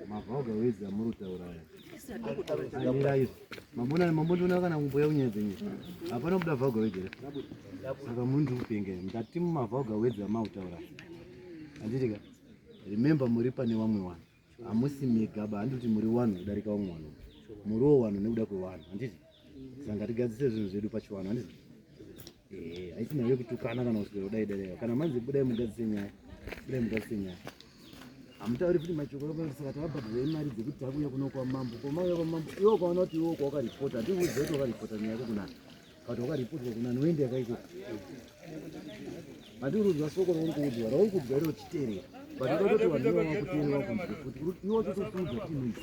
Mabhoga wezi amuri kutaura aya. Mira izvo. Mabona mambotoona kana kumboya kunyenze nyika. Hapana kuda bhoga wezi. Saka muri ndi kupenge. Ndati mumabhoga wezi amuri kutaura. Anditi ka? Remember muri pane vamwe vanhu. Hamusi mega ba handiti muri vanhu kudarika vamwe vanhu. Muri wo vanhu nekuda kwevanhu. Anditi? Saka ngatigadzise zvinhu zvedu pachivanhu. Anditi? Eh, haisi nyaya yekutukana kana kuswera kudai dai kana manzi budai mugadzise nyaya budai mugadzise nyaya hamutauri futi machokoro saka tavabhadharei mari dzekuti takuuya kuno kwamambo komauya kwamambo iwe ukaona kuti iwe kwawakaripota hatiuudze kuti wakaripota nyaya yako kunani but wakaripotwa kunani woenda yakaiko handiurudzwa soko rauri kuudzwa rauri kuudzwa iro chiterera but uda kuti vanhu vakuteerera kunzwa kuti iwe totokudza kuti noise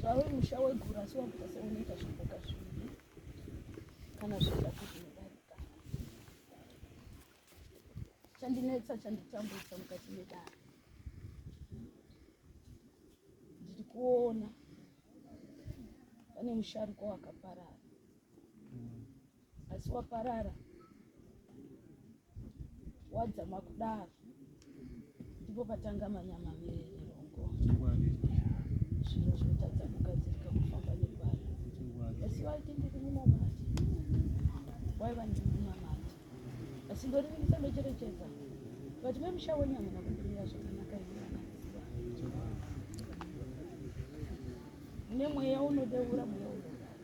zvawe musha weguru asi wakuita seunoita zvimboka zviviri kana zviita kuti unodarika chandinetsa chanditambudza mukati medara ndiri kuona pane musharuko wakaparara asi waparara wadzama kudaro ndipo patanga manyama verongo zviro zvotadza kugadzirika kufamba negwara asi waiti ndiri munamati waiva ndiri munamati asi ndorivirisa ndocherechedza vati memusha wenyu hamuna kumbirira zvakanaka iaaziva mune mweya unodeura mweya unodaa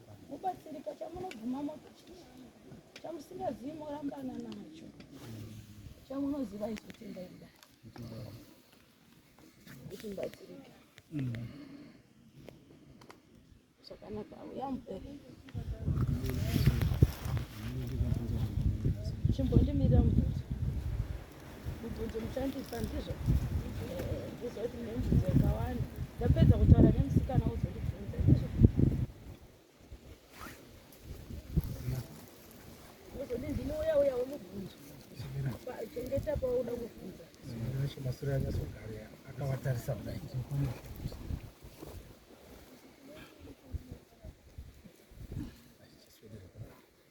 Mubatsirika chamunobvuma motochii chamusingazivi morambana nacho chamunoziva izotenda ida kuti mubatsirike zvakanaka auya mupere chimbondimirira mupere mubvunzo muchandisa ndizvo eh, ndizoti mune mubvunzo yakawanda ndapedza kutaura nemusikana wozondibvunza ndizvo ozoti ndinouya uya wemubvunzo chengeta pauda kubvunza masure anyasogara akawatarisa kudai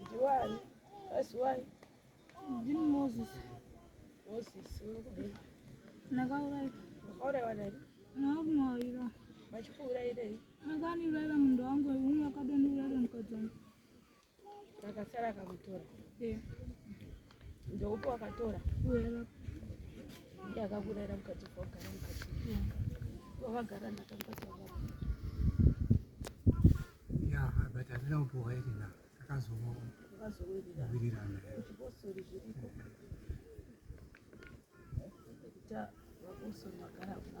Ndiwani? Asi wani? Ndini Moses. Moses, unokudini? Ndakauraika. Wakaurayiwa nani? Nakumwaira. Vachikuurairei? Akaniuraira munhu wangu umwe akadondiuraira mukadzi wangu. Akasara akamutora. Eh. Ndoupo akatora. Uya. Ndiye akakurera mukati kwagara mukati. Wakagara ndakambata wakagara. Ya, but andina kupuwa iri na. Akazomo. Akazomo iri na. Iri na. Kuchiposori zviriko. Kuta wakusoma gara kuna.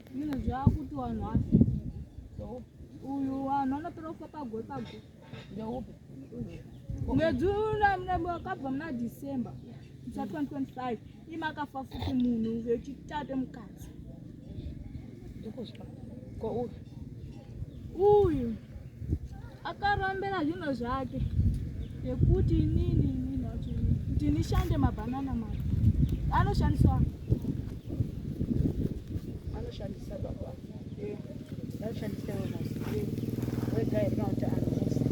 Mino zvakuti vanhu asi uyu vanhu vanotora kufa pagwe pagwe ndeupi mwedzi wakabva muna december sa 2025 imakafa futi munhu vechitate mukadzi ndokuzwa ko uyu uyu akarombera zvinhu zvake nekuti inini inini kuti nishande mabhanana mari anoshandiswa anoshandisa baba anoshandisa wega here kana kuti anoisa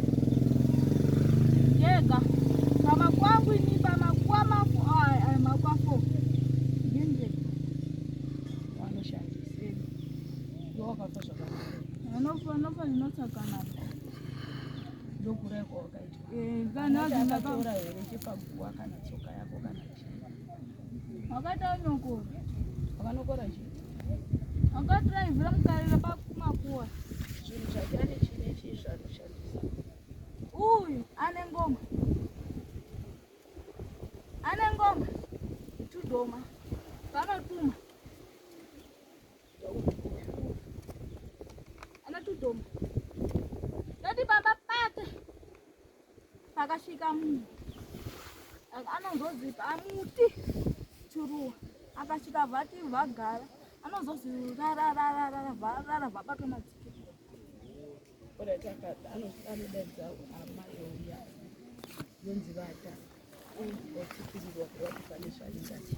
yega pama kwangu ini pama kwamako aya makwafo wakafa zvakanaka anofa anofa zvinotsaka nako ndokurai kwawakaitwa eh, kana azvinakaura here chepaguwa kana tsoka yako kana chii wakati anokora akanokora chii akadhiraivhira mukarira pakumakuwa zvinhu zvake ane chii nechii zvaanoshandisa uyu ane ngoma ane ngoma tudhoma vanotuma anotudoma toti baba pake pakasvika munhu anonzozwi pamuti churuwa akasvika vati vagara anonzozwi rarararara varara vabatwa madzike anodaidza amai ouya yonzi vata vachipirirwa kuvati pane zvaingatii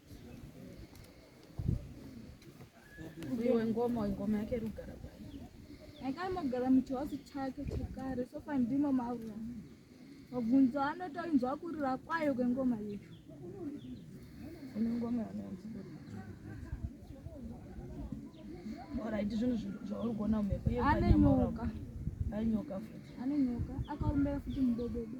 Uyo ngoma ngoma yake rugara bwana. Akamogara muchihouse chake chekare sofa ndimo maura. Mabvunzo anotoinzwa kurira kwayo kwengoma iyo. Ine ngoma yanonzi Alright, zvinhu zvauri kuona mhepo. Ane nyoka. Ane nyoka futi. Ane nyoka. Akaombera futi mudododo.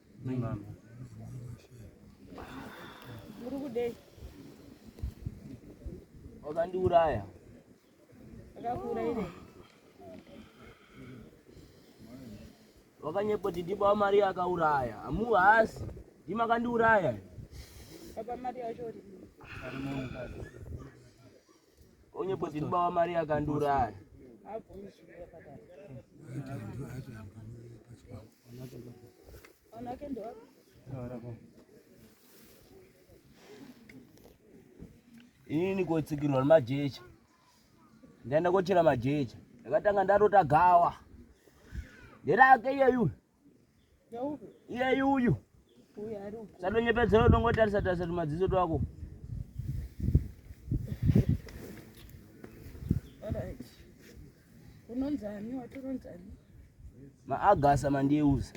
Wakandiuraya. Akakuurayire. Wakanyepa kuti ndipo amari akauraya. Amu haasi. Ndima akandiuraya. Baba mari yacho uri. onyepo zvirubawa mari yakandiuraya inini kotsikirwa nemajecha ndaenda kochera majecha ndakatanga ndarota gawa nderake iyeyu Iye uyu. Uyu ari uko. Sadonyepedzera udongotarisa tarisa tumadziso twako. unonzani watoronzani maagasa mandiyeuza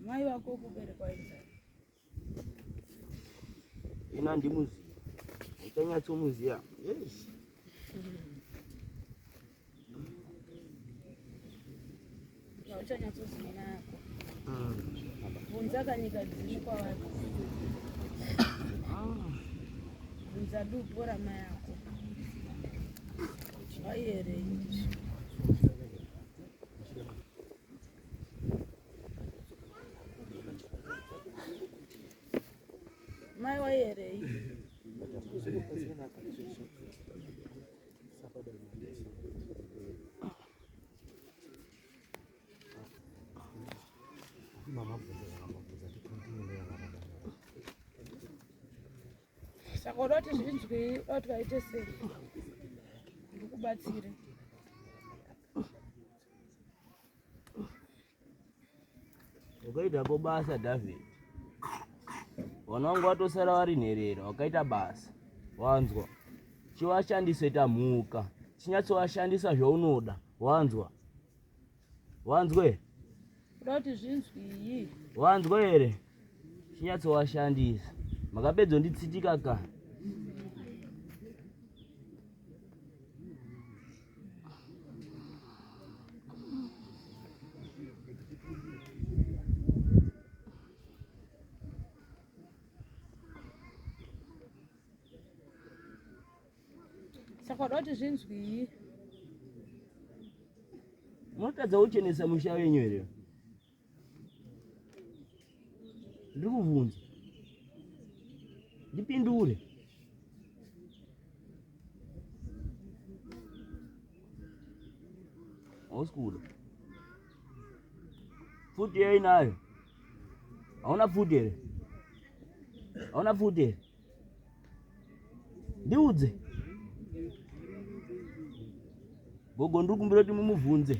mai vako kuberekwa inzani ina ndimuziva uchanyatsomuziva yes uchanyatsoziva nako bvunza kanyika dziri kwavari bvunza dupo rama yako zvaiere izvo Mai waierei? saka uda kuti zvinzwei uda kuti vaite sei ndikubatsire Wakaita ko basa David. Vana wangu watosara vari nherera, wakaita basa. Wanzwa? Chivashandise tamhuka. Chinyatsovashandisa zvaunoda. Wanzwa? Wanzwe? Uda kuti zvinzwii? Wanzwa here? chinyatsowashandisa makapedza nditsitika ka saka doti zvinzwii munotadza kuchenesa musha wenyu here ndikuvhunza ndipindure hausi kuda futi yainayo hauna futi here hauna futi here ndiudze gogo ndiri kumbira kuti mumubvunze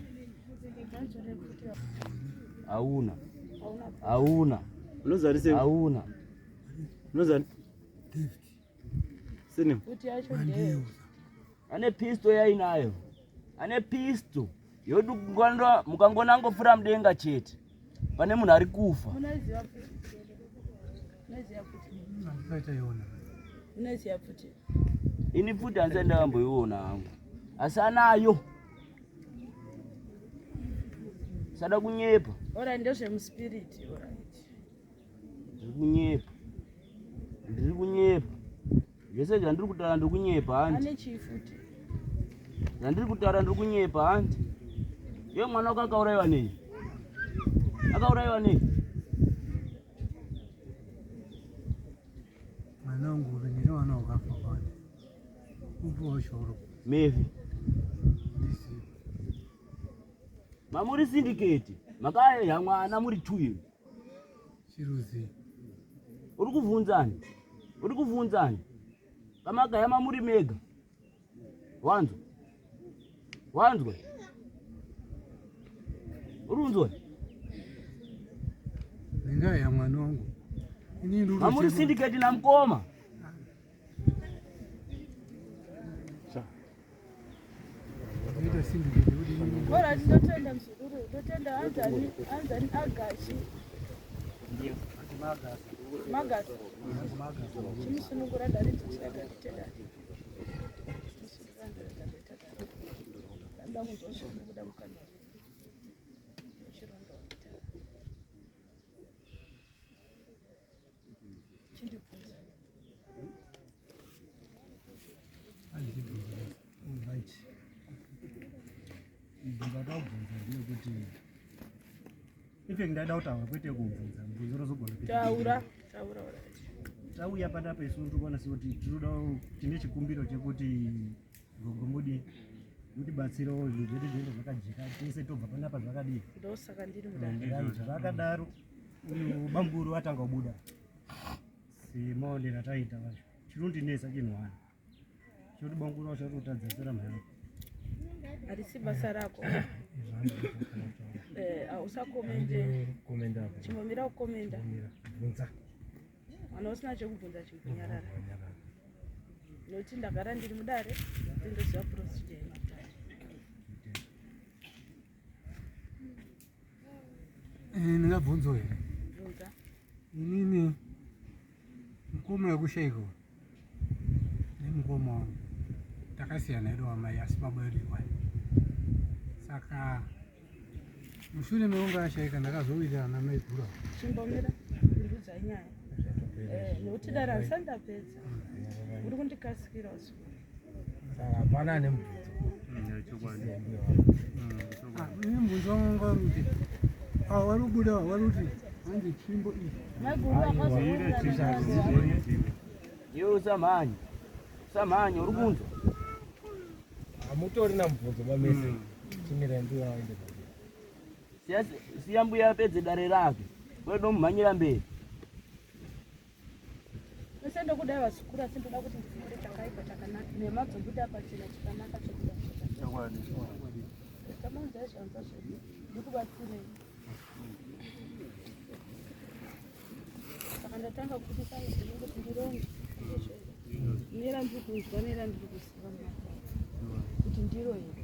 hauna hauna unozarisei hauna unozari sini ane pisto yainayo ane pisto yodukwandwa mukangonangofura mudenga chete pane munhu ari kufa ini pfuti handisati ndakamboiona hangu asi anayo sada kunyepa ora ndezvemuspiriti ora ndiri kunyepa ndiri kunyepa Zvese zvandiri kutaura ndiri kunyepa hanti. Ane chii futi? Zvandiri kutaura ndiri kunyepa hanti. Iye mwana wako akauraiwa nei? Akauraiwa nei? Mwana wangu uri nini wana wakafa kwani? Upo washoro. Mevi. Mamuri syndicate. Makaya mwana muri two years. Chiruzi. Uri kuvhunzani? Uri kuvhunzani? Kamagaya mamuri mega. Wanzwa? Wanzwa? Uri kunzwa? Nendaa ya mwana wangu. Ini ndiri Mamuri kuchema. syndicate namkoma. Bora ndotenda mzukuru, ndotenda anzani anzani agashi. Ndio. Magasi. Magasi. Magasi. Chimisunungura ndari ndichada kutenda. Nda muzosho kuda mukana. Chirondo. Ife ndada kutaura kwete kubvunza mubvunzo unozogona taura taura tauya panapa isu tokwanisa kuti tinoda tine chikumbiro chekuti gogombodi mutibatsire zvinhu zvedu zvinenge zvakajeka tese tobva panapa zvakadii ndosaka ndiri mudai zvakadaro Uyu bamburu atanga kubuda. Simone rataita vacho. Chinondinetsa chinhu wani. Choti bamburu wacho atotadza tsera mhana. Arisi basa rako. Eh, ausakomende. Komenda hapo. Chimomira ukomenda. Bvunza. Mwana usina chekubvunza chikunyarara. Noti ndagara ndiri mudare. Ndoziva procedure. ndingabvunzo here inini mukoma wekushaiko nemukoma wangu takasiyana edu wamai asi baba edu iwai saka mushure mekunge ashaika ndakazowirirana namai gura chimbomira ndiudzai nyaya eh, nokuti dara ndisandapedza uri kundikasikira usiku Hapana nemubvunzo. Mubvunzo wangu wari kuti ava vari kubuda vari kuti hanzi tsvimbo iyi. Iwe usamhanye. Usamhanye uri kunzwa. Hamutori namubvunzo bamese. Chimira ndiwe waende. Siya mbuya apedze dare rake. Wedo mumhanyira mberi. Mese ndokuda vazukuru asi ndoda kuti ndifunge chakaipa chakanaka nemadzo buda pachena chakanaka chokuda chokwadi tamanzi aizvanza zvedu ndikubatsirei saka ndatanga kubudisa muzivi kuti ndironge nera ndiri kunzwa nera ndiri kuziva kuti ndiro here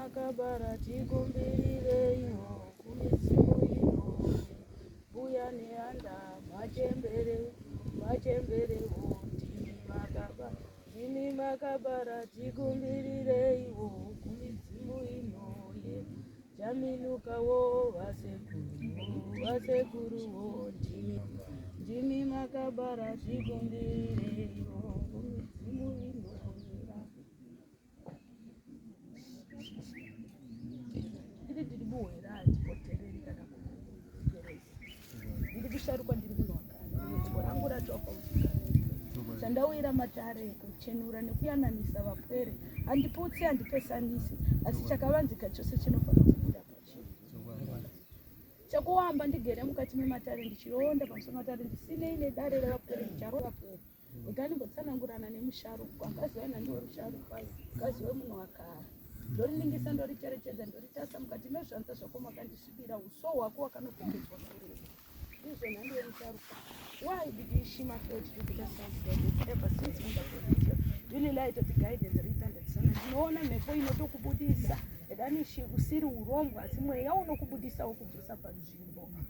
makabara tikumbirireiwo kumidzimu inowe mbuya neanda machembere machemberewo ndimi makabara Imi makabara tikumbirireiwo kumidzimu inoye jaminukawo vasekuru vasekuruwo ndimi ndimi makabara tikumbirireiwo kumidzimu inoye kuchenura matare kuchenura nekuyananisa vapwere handiputsi handipesanisi asi chakavanzika chose chinofanira kubuda pachii chekuamba ndigere mukati mematare ndichironda pamusoro matare ndisinei nedare revapwere ndicharovapwere Ndani ngotsanangurana nemusharukwa akaziva ina ndiwo rusharukwa akaziva munhu wakara ndoriningisa ndoricherechedza ndoritarisa mukati mezvanza zvako makandisvibira uso hwako wakanokomedzwa kureva ndizvo nhando yemusharukwa why did you shima felt to be the sound that you ever since munda kuvidio ndinilai toti guidance riita ndisana ndinoona mhepo inotokubudisa edanishi usiri urombwa asi mweya unokubudisa wokubvisa panzvimbo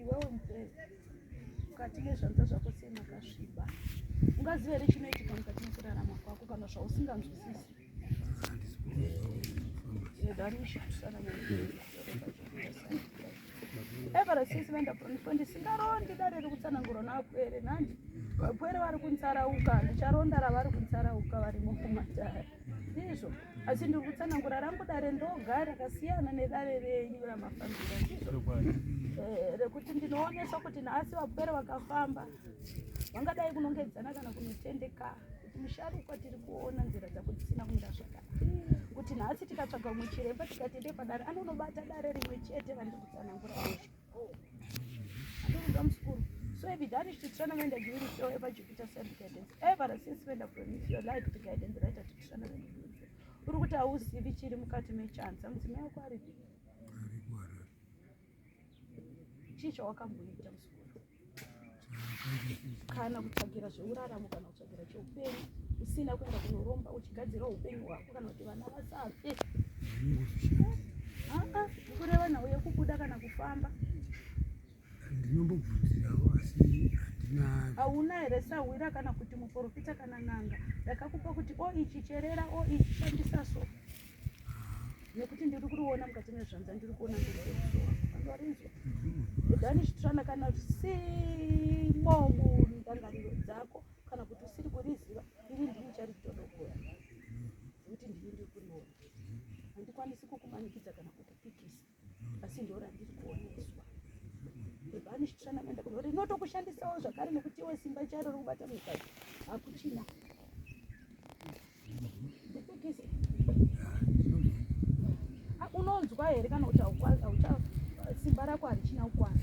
iwewe mukuru mukati mezvanza zvako sei makasviba ungazive here chinoitika mukati mekurarama kwako kana zvausinganzwisisi everesisi vendaproniswa ndisingarondi dare rekutsanangurwa navapwere nani vapwere vari kunsarauka ndicharonda ravari kunsarauka vari mukumatare ndizvo asi ndiri kutsanangura rangu dare ndoga rakasiyana nedare renyu ramafambira ndizvo eh, rekuti ndinoonesa kuti nhasi vapwere vakafamba vangadai kunongedzana kana kunotendeka kuti musharukwa tiri kuona nzira dzako dzisina kumira zvakanaka kuti nhasi tikatsvaga mumwe chiremba tikati ndepadare anonobata dare rimwe chete vandiri kutsanangura izvo So if you damage to tournament and you will show ever Jupiter send guidance. Ever since when I promise your life to guidance right at the tournament. Uri kuti hauzivi chiri mukati mechanza mudzimai wako aripi? Chii chawakamboita musikuru? kana kutsvagira zveuraramo kana kutsvagira cheupenyu usina kuenda kunoromba uchigadzira upenyu hwako kana kuti vana vasafe aa kureva nhau yekubuda kana kufamba ndinombobvunzirawo asi handina hauna here sahwira kana kuti muporofita kana n'anga ndakakupa kuti o ichi cherera o ichi shandisa so nekuti ndiri kuriona mukati mezvanza ndiri kuona ndiriarinzwa udani chitirana kana usimo mundangariro dzako kana kuti usiri kuriziva iri ndini charitorogora nekuti ndiri ndiri kuriona handikwanisi kukumanikidza kana kukupikisa asi ndora ndiri kuoneswa bhebhani zvitirana kuenda kuno rinotokushandisawo zvakare nekuti iwe simba charo rokubata mukati hakuchina unonzwa here kana kuti simba rako harichina kukwana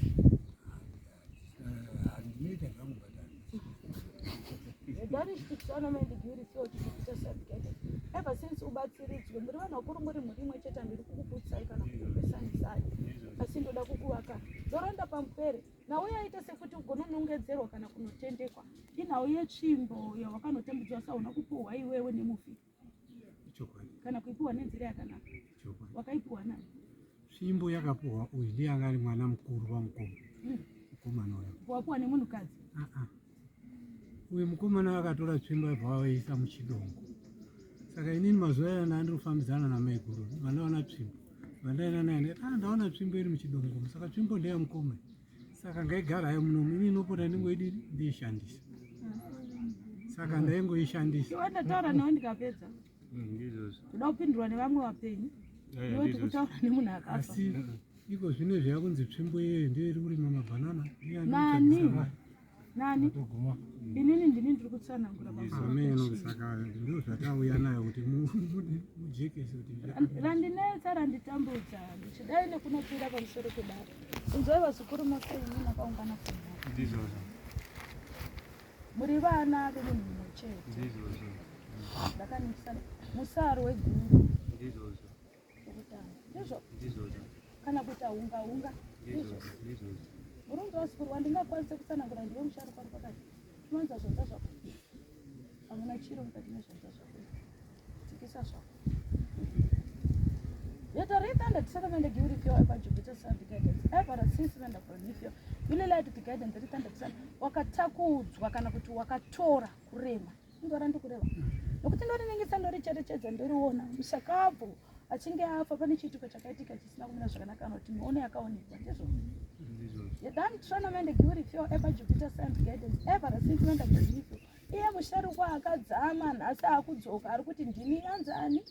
Ever since ubatsiridzwe muri vanhu vakuru muri mhuri imwe chete handiri kukuputsai kana kukupesanisai asi ndoda kukuvaka ndoranda pamupere nhau yaita sekuti ugononongedzerwa kana kunotendekwa inhau yetsvimbo yawakanotambudzwa sauna kupuhwa iwewe nemufi kana kuipiwa nenzira yakanaka wakaipiwa na fimbo yakapiwa uyu ndiye anga ari mwana mukuru wamukoma hmm. mukomana uyo wapiwa nemunhukadzi ah, ah. uyu mukomana akatora tsvimbo yabva wavaisa muchidongo saka inini mazuva aya ndandiri kufambidzana namaiguru vandaona tsvimbo vandaenda naye ah, ndaona tsvimbo iri muchidongo saka tsvimbo ndeyamukoma saka ngaigara hayo munomu ini inopota ndingoidi ndiishandisa saka ndaingoishandisa iwe ndataura nawo ndikapedza ndizvozvo kuda kupindurwa nevamwe vapenyu Eh, iwe ndizvozvo. tikutaura nemunhu akafa asi iko zvino zvayakunzi tsvimbo iyeyo ndiyo iri kurima mabhanana Ndiye Nani? anotadzisa vanhu. nani inini ndini ndiri kutsanangura randinetsa randitambudza ndichidai nekunopira pamusoro kudaro inzoi vazukuru mose inini akaungana kuno muri vana vemunhu mumwe chete ndakanisa musaro weguru kana kuita hunga hunga murundi wasikurwa ndingakwanise kutsanangura ndiwe musharuka ari pakati tinowanza zvanza zvako hamuna chiro mukati nezvanza zvako tsikisa zvako Yet I read that the second and the guilty fear ever Jupiter sun the guidance. Ever a since when the prometheus really lied to the guidance the return the sun wakatakudzwa kana kuti wakatora kurema ndora ndikureva nokuti ndorinengesa ndoricherechedza ndoriona mushakabvu achinge afa pane chiitiko chakaitika chisina kumira zvakanaka anoti mione yakaonekwa ndizvo yadani tronamende giuri fio eba jupiter sand guidance eva rasintimenda gazivio iye musharukwa akadzama nhasi akudzoka ari kuti ndini anzani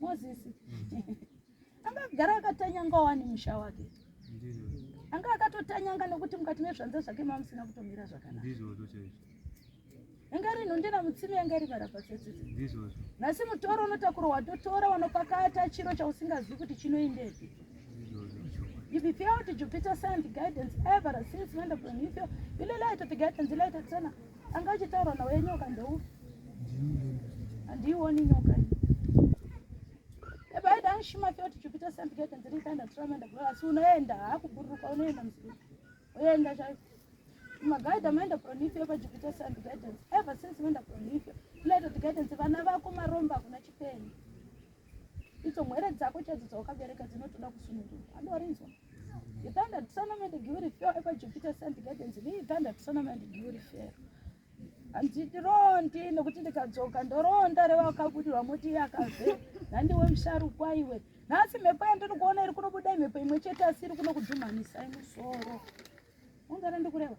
mozisi anga agara akatanyanga wani musha wake anga akatotanyanga nokuti mukati mezvanza zvake mamusina kutomira zvakanaka yanga iri nhundira mutsime yanga iri varapatsetsetse nhasi mutoro unotakura watotora wanopakata chiro chausingazivi kuti chinoendepi If you fail to Jupiter sent guidance ever since when of the new fail, you light of the guidance, you light of the angachitaura nawo yenyoka ndou handiioni nyoka Ebaida shima fyo tichipita sent gate ndiri kana trama ndabula asi unoenda hakuburuka unoenda mzuri. Unoenda chai. Magaida ameenda Pronifio pa Jupiter Sand Gardens. Ever since ameenda Pronifio. Tinaita tigardens vana vako maromba kuna chipenyu. Idzo mwere dzako chadzo dzawakabereka dzinotoda kusunungurwa. Andorinzwa. You thunder to Sonoma and Guri Fair, ever Jupiter Sand Gardens. Me thunder to Sonoma and Guri Fair. hanzi ndirondi nokuti ndikadzoka ndoronda revakabudirwa moti iye akave nhandiwe musharukwa iwe nhasi mhepo yandiri kuona iri kunobuda imhepo imwe chete asi iri kuno kudzumhanisai musoro ungara ndikureva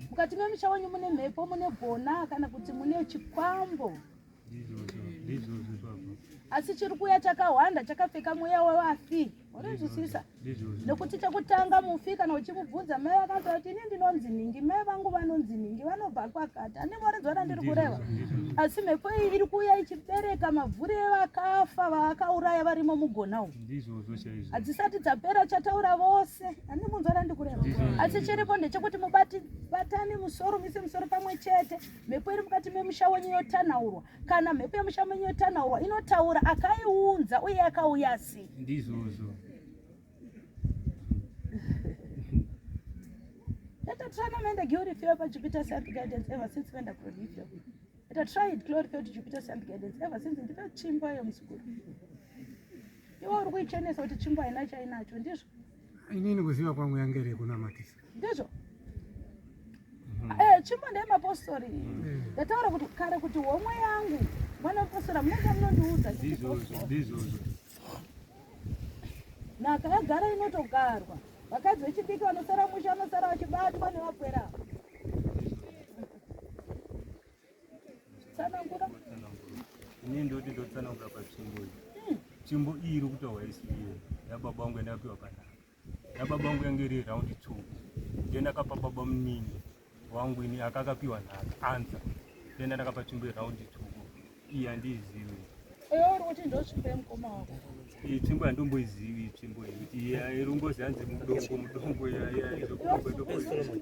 mukati memusha wenyu mune mhepo mune gona kana kuti mune chikwambo asi chiri kuuya chakahwanda chakapfeka mweya wevafi unonzwisisa nekuti chekutanga mufi kana uchimubvunza mai vakaza kuti ini ndinonzi nhingi mai vangu vanonzi nhingi vanobva kwakati ani voridzo randiri kureva asi mhepo iyi iri kuuya ichibereka mavhuri evakafa vavakauraya varimo mugona umu hadzisati dzapera chataura vose ani munzwa randikureva asi chiripo ndechekuti mubati batani musoro mise musoro pamwe chete mhepo iri mukati memusha wenyu yotanaurwa kana mhepo yemusha menyu yotanaurwa inotaura akaiunza uye akauya sei ndizvozvo Let a try and the glory field by Jupiter self guidance ever since when the glory field. Let a try it glory field Jupiter self guidance ever since the first chimba yo msukuru. Iwe uri kuichenesa kuti chimba haina chainacho ndizvo. Inini kuziva kwangu yangere kunamatisa. ndizvo mm-hmm. eh, chimbo ndeyemapostori mm. ndataura kuti kare kuti homwe yangu mwana wepostora munenge munondiudza nhaka yagara inotogarwa vakadzi vechidiki vanosara musha vanosara vachibatwa nevapwera tsanangura ini ndoti ndotsanangura pachimbo chimbo iyi iri kutaura isi yababa wangu yandapiwa panaa nababa vangu yange iri round two then akapa baba munini wangu ini akakapiwa nhaka anza then ndakapa tsvimbo yeround two iyi handiizivi iyi tsvimbo yandomboizivi iyi tsvimbo yekuti irungozi hanzi mudongo mudongo yaizokuoedokoii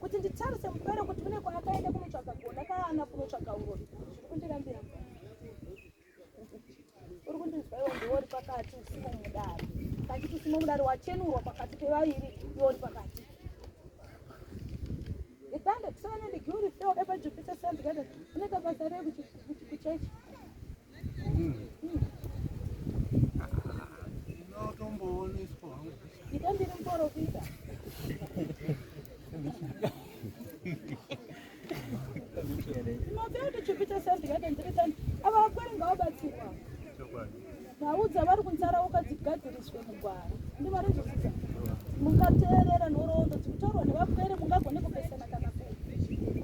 kuti nditarise mupere kuti kune kwaakaenda kunotsvaga gona kaana kunotsvaga urori zviri kundirambira uri kundinzwa iwo ndiwo uri pakati usimo mudari kachiti usimo mudari wachenurwa pakati pevairi iwo uri pakati itande kusana nendigiuri feo epa jupiter sand garden unoita basa rei kuchechi vaudza vari kunsara ukadzigadziriswe mugwara ndi vari zvisiza mungateerera nhoroondo dzikutaurwa nevapwere mungagone kupesana kana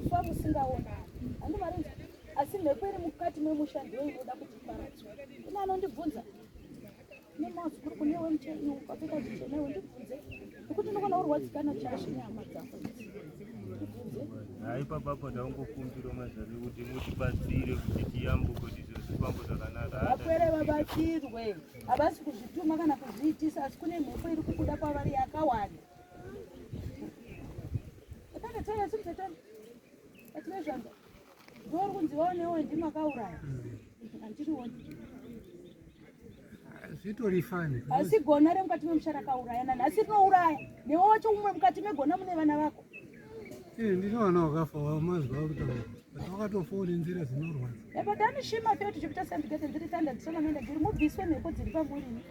kufa musingaonani handi vari asi mhepo iri mukati memusha ndiyo inoda kuti iparadzwa kune anondibvunza nemazukuru kune wemuchaiwo kwapfeka zvichenewe ndibvunze nokuti ndokona urwadzikana chashe nehama dzako hai papapo ndaungokumbira mazvake kuti mutibatsire kuti tiyambuko tizozvifambo zvakanaka vapwere vabatsirwe havasi kuzvituma kana kuzviitisa asi kune mhepo iri kukuda kwavari yakawanda atanataiasimtatani atinezvanga Ndori kunzi waonewo ndimi akauraya. Andiri woni. Zvitori fani. Asi gona re mukati memusha rakauraya nani asi rinouraya. Newe wacho umwe mukati megona mune vana vako. Eh ndinoona wakafa wamazwa kutaura. Wakatofona nzira dzinorwadza. Ebo dani shima fete chipita sandikete ndiri tanda ndisona nenda ndiri mubviswe mhepo dziri pamuri.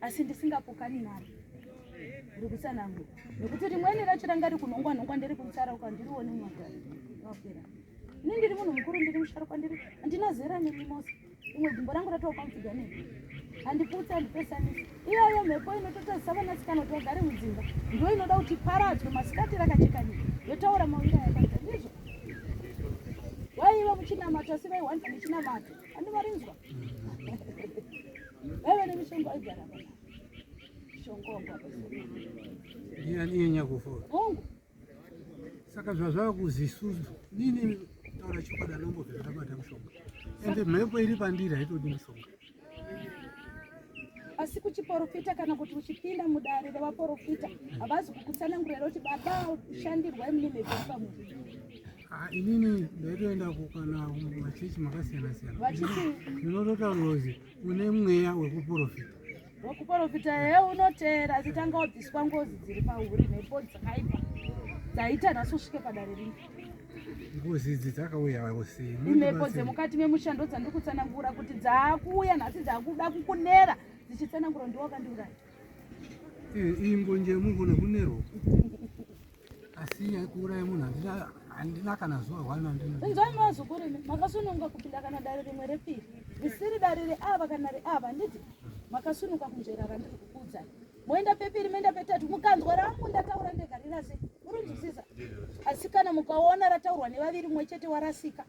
asi ndisingapokani naro uri kutsanangura nekuti rimweni racho ranga ri kunhongwa nhongwa ndiri kumusarauka ndirione mwaga wapera ini ndiri munhu mukuru ndiri musharukwa ndiri handina zera nemi mose imwe gumbo rangu ratova kwamufiga ne handiputsi handipesanisi iyoyo mhepo inototazisa vanasikana kuti vagare mudzimba ndo inoda kuti paradzwe masikati rakacheka nyika yotaura mawira yakaita ndizvo waiva muchinamato asi vaiwanza nechinamato andivarinzwa vaive nemishongo aigara ndiye nyakufora hongu saka zvazvava kuzisuzu nini taura chokwadi anombovhera tabata mushonga ende mhepo iri pandiri haitodi mushonga asi kuchiporofita kana kuti uchipinda mudare revaporofita havazi kukutsanangurira kuti baba shandirwa imini mhepo pamunhu Ah, inini ndaitoenda kukana machechi makasiyana siyana ndinotota ngozi une mweya wekuprofita wekuprofita he unoteera achitanga wabviswa ngozi dziri pauri nepo dzakaipa dzaita nhasi usvike padare rino ngozi idzi dzakauya usi inepo dzemukati memushando dzandikutsanangura kuti dzaakuuya nhasi dzakuda kukunera dzichitsanangura ndiwakandiuraya iyi mbonje yemunhu nekunerwo asi yaikuuraya munhu handina handina kana zuva hwana ndinzwai mazukuru imi makasununga kupinda kana dare rimwe repiri risiri dare reava kana reava handiti makasunuka kunzvera randiri kukuudzai moenda pepiri moenda petatu mukanzwa rangu ndataura ndega rinase urinzwisisa asi kana mukaona rataurwa nevaviri mumwe chete warasika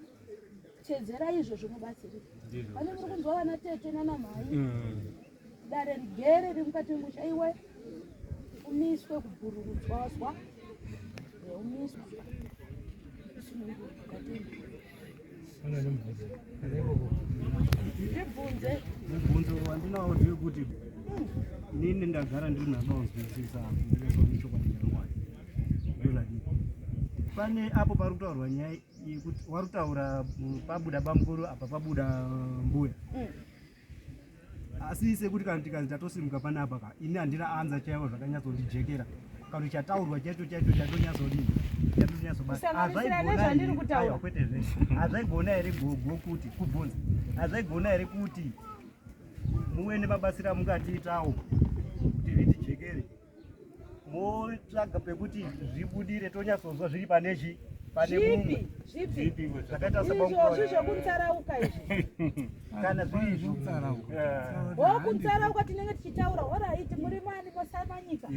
teedzerai izvozvo mubatsirika pane muri kunzwa vana tete nana mhai mm. Dare rigere riri mukati memusha iwe umiswe kubhururudzwa wazwa umiswe ndibvunze mubvunzo wandinawo ndewekuti inini ndagara ndiri nabaonzwisisa pane apo pari kutaurwa nyaya yekuti wari kutaura pabuda bamukuru apa pabuda mbuya mm. asi sekuti kana tikanzi tatosimuka panapa ka ini handina anza chaivo zvakanyatsondijekera kana chataurwa chaicho chaicho chatonyazodii hazvaigona here gogo kuti kubvunza hazvaigona here kuti muwene mabatsira mukatiitawo kuti vitijekere motsvaga pekuti zvibudire tonyatsonzwa zviri pane chi pane mumwe zvipi zvakaita saizvozvi zvokutsarauka izvi kana zviri zvokutsarauka eh. tinenge tichitaura horaiti muri mani mosamanyika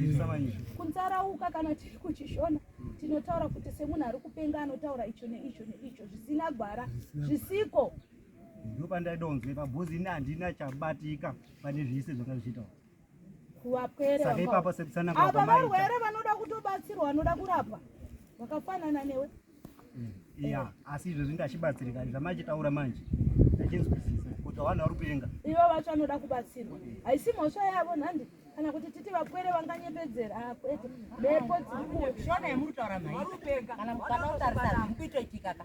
kutsarauka kana tiri kuchishona tinotaura kuti semunhu ari kupenga anotaura icho neicho neicho zvisina gwara zvisiko ndopandaidonzwe pabhuzi ini handina chabatika pane zvese zvanga zvichitaura kuvapwere Saka ipapo sekusana apa kwako maita. varwere vanoda kutobatsirwa vanoda kurapwa vakafanana newe Iya, asi izvo zvinda achibatsirika zvamachitaura manje. Ndachinzwisisa kuti vanhu vari kupenga. ivo vacho vanoda kubatsirwa haisi mhosva yavo nhandi kana kuti titi vapwere vanganyepedzera Ah, kwete mhepo dziri kuuya shona yemuri kutaura mhai kana mukana utarisa zviri kuitoitika ka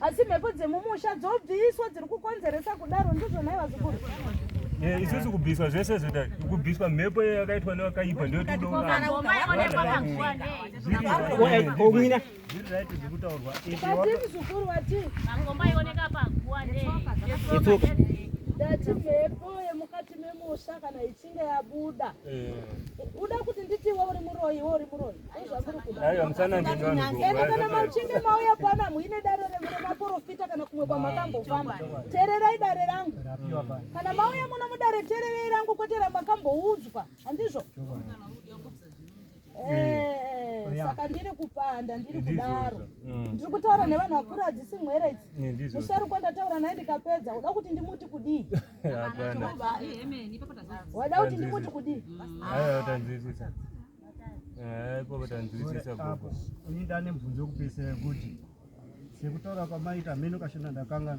asi mhepo dzemumusha dzobviswa dziri kukonzeresa kudaro ndizvo nhai vazukuru eh, isusu kubviswa zvese zvoda kubviswa mhepo yakaitwa nevakaipa ndotodoaimuzukuru vati ndati mhepo yemukati memusha kana inenge yabuda uda kuti nditi iwe uri muroyi iwe uri muroyi ende kana machinge mauya pana muine dare remune maporofita kana kumwe kwamakambofamba tererai dare rangu kana mauya muno mudare tererei rangu kwete ramakamboudzwa handizvo Eh, saka ndiri kupanda ndiri kudaro mm. ndiri kutaura nevanhu vakuru hadzisi mwere idzi eh, musharukwa ndataura naye ndikapedza uda kuti ndimuti kudii wada kuti ndimuti kudii apo tanzwisisa gogo ini ndane mubvunzo wekupesera kuti sekutaura kwamaita hameno kashona ndakanga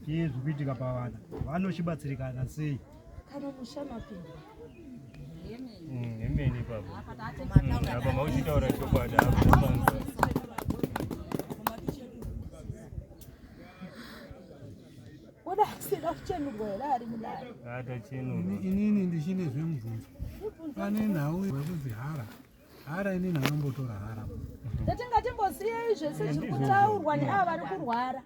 chii zvikuitika pavana vano chibatsirikana sei kana musha mapinda mm, emene baba apa mm, mauchitaura chokwadi inini ndichine zvemubvunzo pane nhau yekuzihara hara inini anombotora hara tatingatimbosiyei zvese zviri kutaurwa neava vari kurwara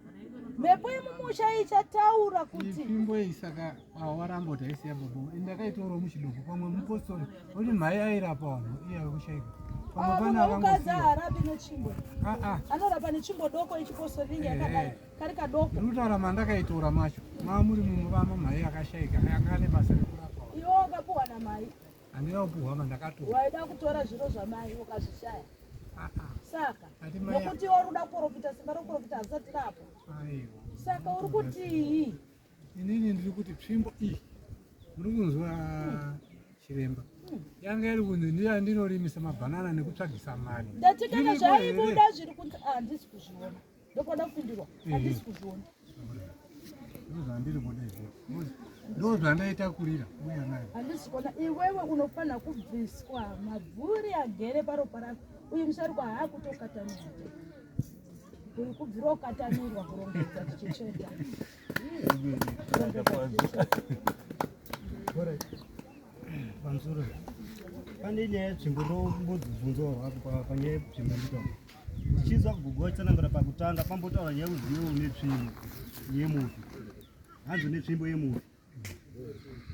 mhepo yemumusha ichataura kuti imbo iyi saka awarambo taisiya bobo ndakaitorawo muchidoko pamwe mupostori oti mhai airapa vanhu iye akushaika ukadzi aharapi nechimbo anorapa nechimbo doko ichipostori inge yakadai kari kadoko ndinotaura mandakaitora macho mamuri mumwe vama mhai akashaika anga ane basa rekurapa iwo akapuwa namhai Andina kupuhwa mandakatora. Waida kutora zviro zvamai ukazvishaya. Ah, ah. Saka nokuti wari kuda kuporofita simba rokuporofita hazisati rapo. Saka uri kutii? Inini ndiri kuti tsvimbo iyi muri kunzwa hmm. chiremba hmm. yanga iri kunzi ndiye andinorimisa mabhanana nekutsvagisa mari. Ndati kana zvaibuda zviri kunzi ah, handisi kuzviona. ndokuda kupindirwa handisi kuzviona ndozvandaita kurira uya nayo handisi kuona iwewe unofanira kubviswa mabvuri agere paropa rako uyu musharukwa haakutokatanira uyu kubvira ukatanirwa kurongedza tichitsveta pamusoro pane nyaya yetsvimbo ndombobvunzawo hako panyaya yetsvimbo nditoo ndichinzwa kugogo vachitsanangura pakutanga pambotaura nyaya yekuti iwe une tsvimbo yemufi hanzi une tsvimbo yemufi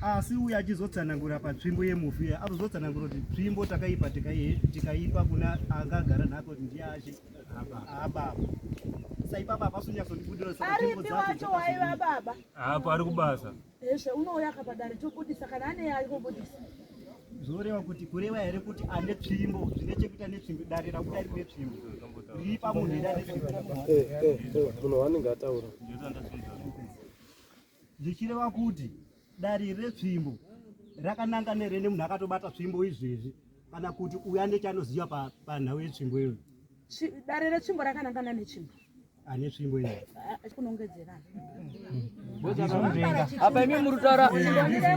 asi uye achizotsanangura patsvimbo yemufi uye azozotsanangura kuti tsvimbo takaipa tikaipa kuna angagara nako kuti ndiye achi ababa saipapa apasunyasondibudira saapo ari kubasa Hezvo unouya aka padare tobudisa kana ane yaari kubudisa. Zvoreva kuti kureva here kuti ane tsvimbo zvine chekuita netsvimbo dare rakuda rine tsvimbo ripa munhu here ane tsvimbo eh, eh, eh, munhu waanenge ataura zvichireva kuti dare retsvimbo rakananga nerene munhu akatobata tsvimbo izvezvi kana kuti uya nechanoziva panhau yetsvimbo iyoyo dare retsvimbo rakanangana netsvimbo ane tsvimbo iyi apa imi muri kutaura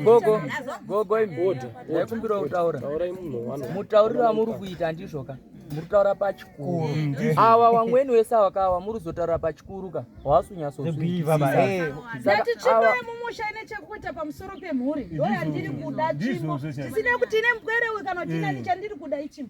gogo gogo imbodha ndaikumbira kutaura mutauriro amuri kuita ndizvoka muri kutaura pachikuru mm, awa wamweni wese awakawa muri kuzotaura pachikuru ka hawasunyasozviiamumusha ine chekuita pamusoro pemhuri ndo yandiri kuda chimo zvisinei kuti ine mbwerewe kana kuti inani chandiri kuda ichimo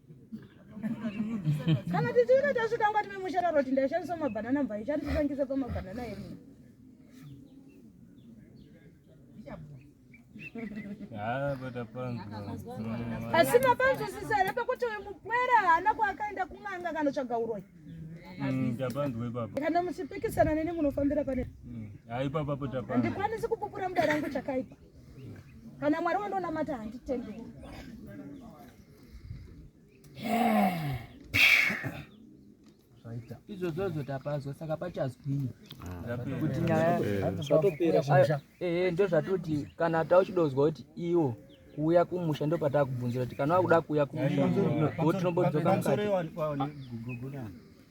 kana tichiita tasvika ngati memushara roti ndaishandisa mabhanana mvai chandisangisa pamabhanana emu asi mapanzo sisere pekuti uyu mupwere haana kwaakaenda kun'anga kanotsvaga uroyi mm, kana muchipikisana neni munofambira pane mm, handikwanisi kupupura muda rangu chakaipa kana mwari wandonamata handitendei izvozvozvo tapazwa saka pachazwii kuti nyaya ehe ndozvatoti kana tauchidozwa kuti iwo kuuya kumusha ndopatakubvunzira kuti kana wakuda kuuya kumusha tinombodzokaaaa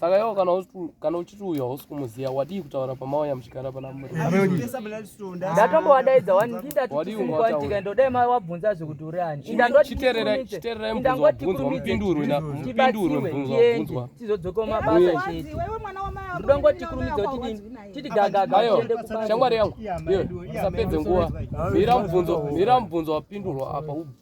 saka iwo kana uchiti uyo hausi kumuziva wadii kutaura pamauya muchigara pana muridatomboadaidza wandiindatikaendodai mai wabvunza zvekuti uri ani indangotikurumidzeiendi tizodzoka mabasa chete ndongotikurumidza kuti titi gagagaende kushamwari yangu usapedze nguva mira mubvunzo wapindurwa apa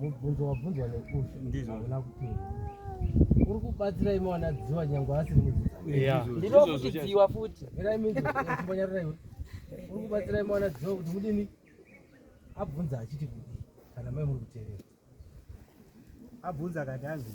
mubvunzo wabvunzwa nekusha ndizvo hauna kupinda uri kubatsira imi wanadziwa nyange asiri mudzidzairokuchidziwa futi iraimizonyarira iwe uri kubatsira imi wanadziwa kuti mudini abvunza achiti kuti kana mai muri kuterera abvunza kati anzi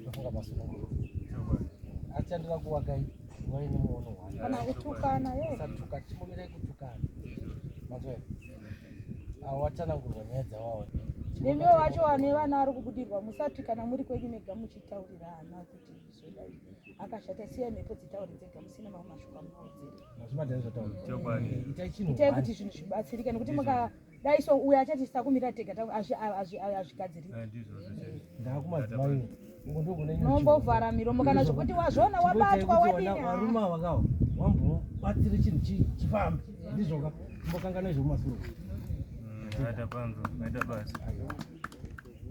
Ndofunga masumo. Acha ndira kuwagai. Wewe ni muono wangu. Kana kutukana yeye. Sasa tuka chimumire kutukana. Mazwe. Awatana ngurwanyedza wao. Nemi wacho wane vana ari kubudirwa musati kana muri kwenyu mega muchitaurirana kuti zvoda akashata siya mhepo dzitaure dzega musina mamwe mashoko amuodzera. Mazvima ndazvataura. Chokwadi. Itai chinhu. Itai kuti zvinhu zvibatsirike nekuti muka dai so uyo achati tisakumira tega azvigadzirika nombovhara miromo kana zvekuti wazviona wabatwa wadinivarume avakawa wambobatsire chinhu chifambe ndizvoka mbokanganai zvemumasuro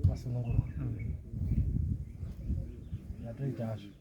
masununguro yatoita mm, azvo